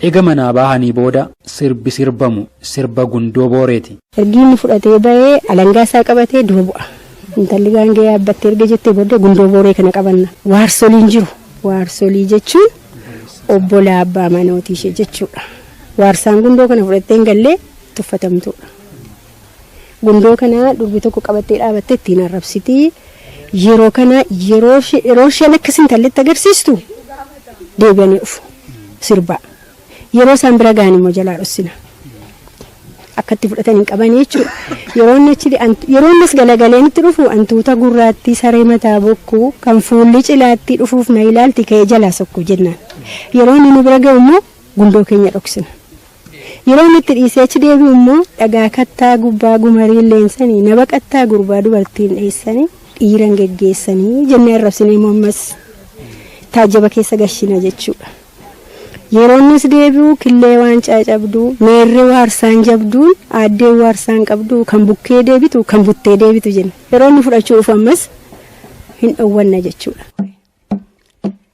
Ega manaa baahanii booda sirbi sirbamu sirba gundoo booreeti. Ergi inni fudhatee bahee alangaa isaa qabatee dura bu'a. Intalli gaangee yaabbattee erga jettee booddee gundoo booree kana qabanna. Waarsoliin jiru. Waarsolii jechuun obbolaa abbaa manootii ishee jechuudha. Waarsaan gundoo kana fudhattee hin gallee tuffatamtuudha. Gundoo kana durbi tokko qabattee dhaabattee ittiin arrabsiti. Yeroo kana yeroo ishee- yeroo isheen akka sintalletti agarsiistu deebi'anii dhufu sirbaa. Yeroo isaan bira ga'an immoo jalaa dhossina. Akka itti fudhatan hin qabanii jechuudha. Yeroo inni achi ant- yeroo innis galagaleen itti dhufu antuuta gurraattii saree mataa bokkuu kan fuulli cilaattii dhufuuf na ilaalti ka'ee jalaa sokku jennaan. Yeroo inni nu bira ga'u immoo gundoo keenya dhoksina. Yeroon itti dhiisee achi deebi'u immoo dhagaa kattaa gubbaa gumariin leensanii na baqattaa gurbaa dubartiin dheessanii dhiiran geggeessanii jennee arrabsinee immoo ammas taajjaba keessa gashina jechuudha. Yeroo innis deebi'u killee waan caacabduu meerree waarsaan jabduun aaddee waarsaan qabdu kan bukkee deebitu kan buttee deebitu jenna. Yeroo inni fudhachuu dhufu ammas hin dhowwanna jechuudha.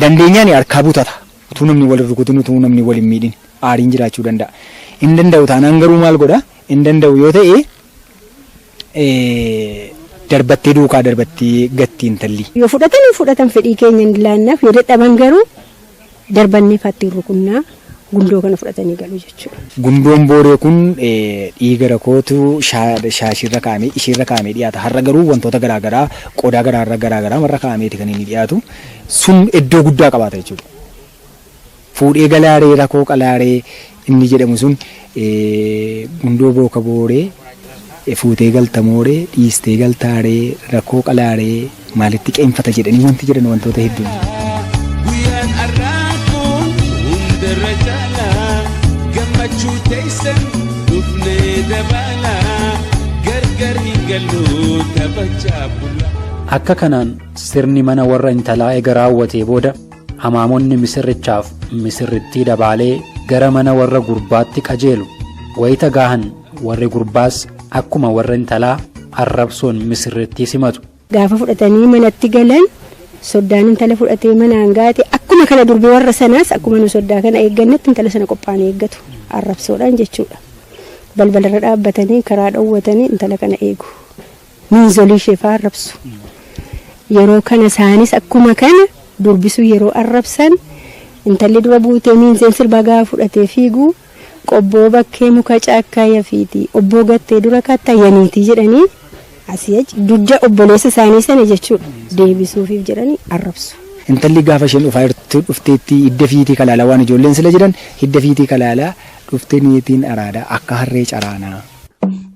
dandeenyaan harkaa butata. Utuu namni wal hin rukutin, utuu namni wal hin miidhin aariin jiraachuu danda'a. Hin danda'u taanaan garuu maal godha? Hin danda'u yoo ta'e darbattee duukaa darbattee gatti intalli. Yoo fudhatan hin fudhatan fedhii keenya hin laannaaf, yoo dadhaban garuu. darbannee faa ittiin rukunnaa gundoo kana fudhatanii galu jechuudha. Gundoon booree kun dhiiga rakootu shaashiirra kaa'amee ishiirra kaa'amee dhiyaata. Har'a garuu wantoota garaa garaa qodaa garaarra garaa garaa marra kaa'ameeti kan inni dhiyaatu. Sun iddoo guddaa qabaata jechuudha. Fuudhee galaaree rakoo qalaaree Inni jedhamu sun gundoo booka booree fuutee galta mooree dhiistee galtaa ree rakkoo qalaa ree maalitti qeenfata jedhanii wanti jedhan wantoota hedduun. Guyyaan har'aa kun hundarra caala gammachuu teessan dhufnee dabaala gargar hin gallu taphachaa bula. Akka kanaan sirni mana warra intalaa ega raawwatee booda Hamaamonni misirrichaaf misirrittii dabaalee gara mana warra gurbaatti qajeelu. Wayita gaahan warri gurbaas akkuma warra intalaa arrabsoon misirrittii simatu. Gaafa fudhatanii manatti galan soddaan intala fudhatee manaan gaate akkuma kana durbi warra sanaas akkuma nu soddaa kana eeggannetti intala sana qophaa'anii eeggatu. Arrabsoodhaan jechuudha. Balbalarra dhaabbatanii karaa dhowwatanii intala kana eegu. miinzolii ishee fa'aa arrabsu. Yeroo kana isaanis akkuma kana durbisuu yeroo arrabsan intalli dura buutee miinzeen sirbaa gaafa fudhatee fiigu qobboo bakkee muka caakkaa yafiiti obboo gattee dura kaattaa yaniitii jedhanii asii achi dugda obboleessa isaanii sana jechuudha deebisuufiif jedhanii arrabsu. Intalli gaafa isheen dhufaa jirtu dhufteetti hidda fiitii kalaalaa waan ijoolleen sila jedhan hidda fiitii kalaalaa dhuftee niitiin araadaa akka harree caraanaa.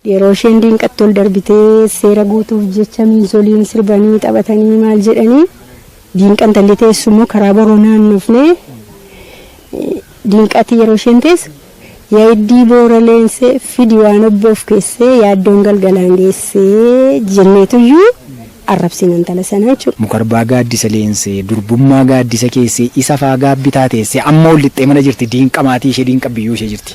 Yeroo isheen diinqatti ol darbitee seera guutuuf jecha miinzoliin sirbanii taphatanii maal jedhanii diinqa intalli teessu immoo karaa boroo naannofnee diinqatti yeroo isheen teessu yaaddii boora leensee fidi waan obboof keessee yaaddoon galgalaan geessee jenneetuyyuu arrabsina intala sanaa jechuudha. Mukarbaa gaaddisa leensee durbummaa gaaddisa keessee isa faa gaabbitaa teessee amma ol lixxee mana jirti diinqa maatii ishee diinqa biyyoo ishee jirti.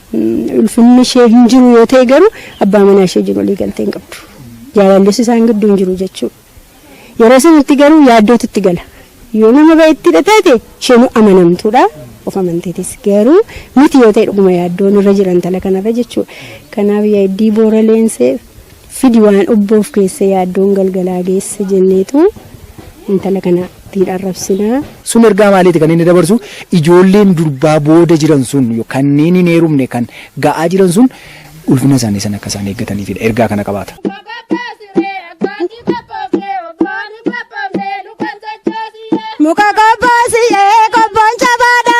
Ulfinni ishee hin jiru yoo ta'e garuu abbaa manaa ishee jiru walii galtee hin qabdu. Jaalallis isaan gidduu hin jiru jechuudha. Yeroo sanatti garuu yaaddootu itti gala. Yoo nama baay'eettidha taate isheen amanamtuudha. Of amanteetis garuu miti yoo ta'e dhuguma yaaddoon irra jira intala kanarra jechuudha. Kanaaf yaaddi boora leensee Fidi waan obboof keessa yaaddoon galgalaa geesse jenneetu intala kana ittiin arrabsinaa. Sun ergaa maaliiti kan inni dabarsu? Ijoolleen durbaa booda jiran sun kanneen hin heerumne kan ga'aa jiran sun ulfina isaanii sana akka isaan eeggataniifidha. Ergaa kana qabaata. Muka qophoosiyee qophoon cabaadha.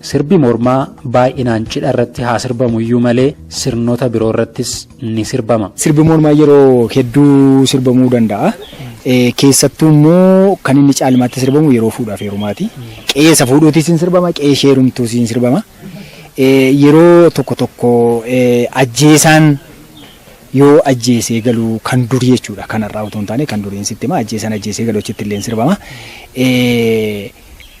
Sirbi mormaa baay'inaan cidha irratti haa sirbamu iyyuu malee sirnoota biroo irrattis ni sirbama. Sirbi mormaa yeroo hedduu sirbamuu danda'a. Keessattuu immoo kan inni caalmaatti sirbamu yeroo fuudhaaf heerumaati. Qe'ee isa fuudhuutis ni sirbama, qe'ee ishee heerumtuus ni sirbama. Yeroo tokko tokko ajjeesaan yoo ajjeesee galu kan durii jechuudha kan har'aa utuu hin taane kan duriin sitti hima ajjeesaan ajjeesee galu achitti illee ni sirbama.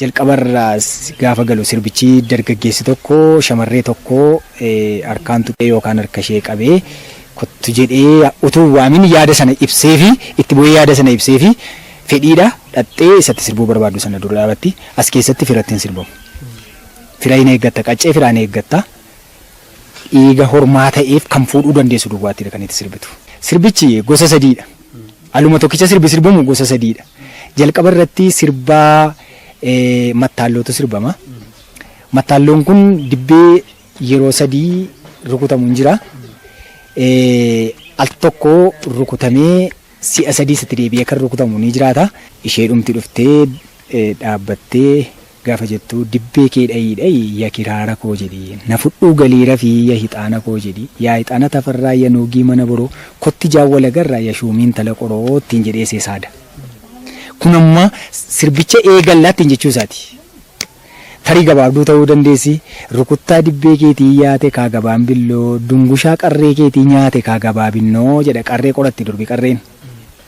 Jalqabarraas gaafa galu sirbichi dargaggeessi tokko shamarree tokko harkaan tuqee yookaan harka ishee qabee kottu jedhee utuu hin waamin yaada sana ibseefi itti bu'ee yaada sana ibseefi fedhiidha dhaqxee isatti sirbuu barbaaddu sana dura dhaabatti. As keessatti firatti hin sirbamu. Fira hin eeggatta qaccee firaa hin eeggatta. Dhiiga hormaa ta'eef kan fuudhuu dandeessu duwwaatti dha kan itti sirbitu. Sirbichi gosa sadii dha. Aluma tokkicha sirbi sirbamu gosa sadii dha. Jalqaba irratti sirba mattaallootu sirbama. Mattaalloon kun dibbee yeroo sadii rukutamu hin jira. Al tokko rukutamee si'a sadiis itti deebi'ee kan rukutamu ni jiraata. Isheedhumti dhuftee dhaabbattee Gaafa jettuu dibbee kee dhayii dhayii ya kiraara koo jedhii na fudhuu galii rafii ya hixaana koo jedhii yaa hixaana tafarraa ya nuugii mana boroo kotti jaan wal agarra ya shuumii intala qoroo ittiin jedhee see saada kun amma sirbicha eegalla ittiin jechuu isaati tarii gabaabduu ta'uu dandeessi rukuttaa dibbee keetii yaate kaa gabaan billoo dungushaa qarree keetii nyaate kaa gabaa binnoo jedha qarree qoratti durbi qarreen.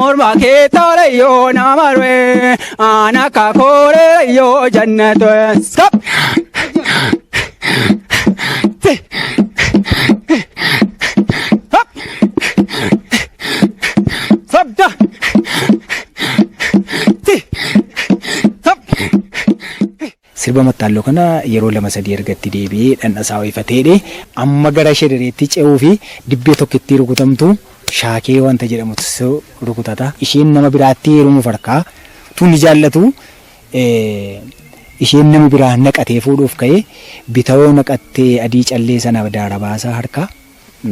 Morma kee tola yoo nama ree ana ka koore yoo jannatu skop. Sabda. Ti. Sab. Sirba mattaalloo kana yeroo lama sadii erga itti deebi'ee dhandhasaa ho'ifatee hidhee amma gara shedhereetti ce'uu fi dibbee tokkittii rukutamtu shaakee wanta jedhamutu rukutata. Isheen nama biraatti heerumuuf harkaa utuu inni jaallatu isheen nama biraa naqatee fuudhuuf ka'e. Bitawoo naqattee adii callee sana daara baasa harkaa.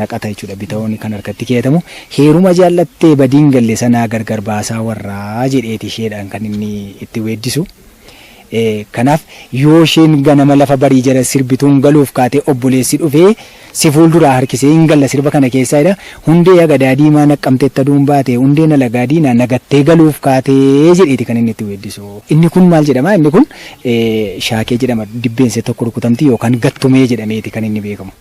naqata jechuudha bitawooni kan harkatti keeyatamu heeruma jaallattee badiin galle sanaa gargar baasaa warraa jedheeti isheedhaan kan inni itti weeddisu kanaaf yoo isheen ganama lafa barii jala sirbituun galuuf kaatee obboleessi dhufee si fuulduraa harkisee hin galla sirba kana keessaa jedha hundee agadaa diimaa naqqamteetta duun baate hundeen alagaa diinaa nagattee galuuf kaatee jedheeti kan inni itti weeddisu inni kun maal jedhama inni kun shaakee jedhama dibbeense tokko rukutamti yookaan gattumee jedhameeti kan inni beekamu.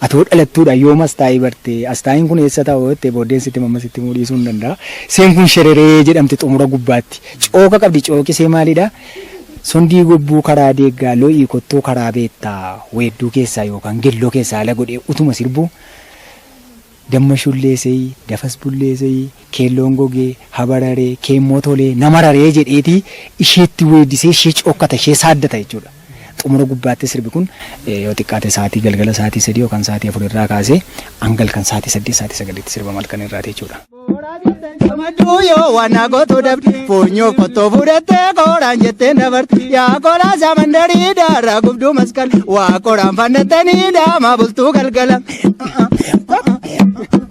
Ati hoo dhalattuudhaan yoom Astaayii barte? Astaayiin kun eessa ta'a hoo jettee booddeen sitti hima amma sitti himuu dhiisuun danda'a. Iseen kun Shereree jedhamti xumura gubbaatti. Cooka qabdi cooki isee maalidha? Sondii gobbuu karaa deeggaa lo'ii kottuu karaa beettaa weedduu keessaa yookaan gelloo keessaa ala godhee utuma sirbuu Damma shullee seyi, dafas bullee seyi, Keelloon gogee, ha bararee, kee immoo tolee, na mararee jedheeti isheetti weeddisee ishee cookkata, ishee saaddata jechuudha. Xumura gubbaattis sirbi kun yoo xiqqaate sa'aatii galgala sa'aatii sadii yookaan sa'aatii afur irraa kaasee hanga halkan sa'aatii saddeet sa'aatii sagaliitti sirbama halkan irraati jechuudha. Gammachuu yoo waan na gootu dhabde funyoo qottoo fudhattee kooraan jettee dabarte yaa koolaa samandarii daaraa gubduu maskala waa kooraan fannattanii daamaa bultuu galgala.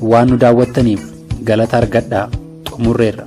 Waan nu daawwattaniif galata argadhaa. Xumurreerra.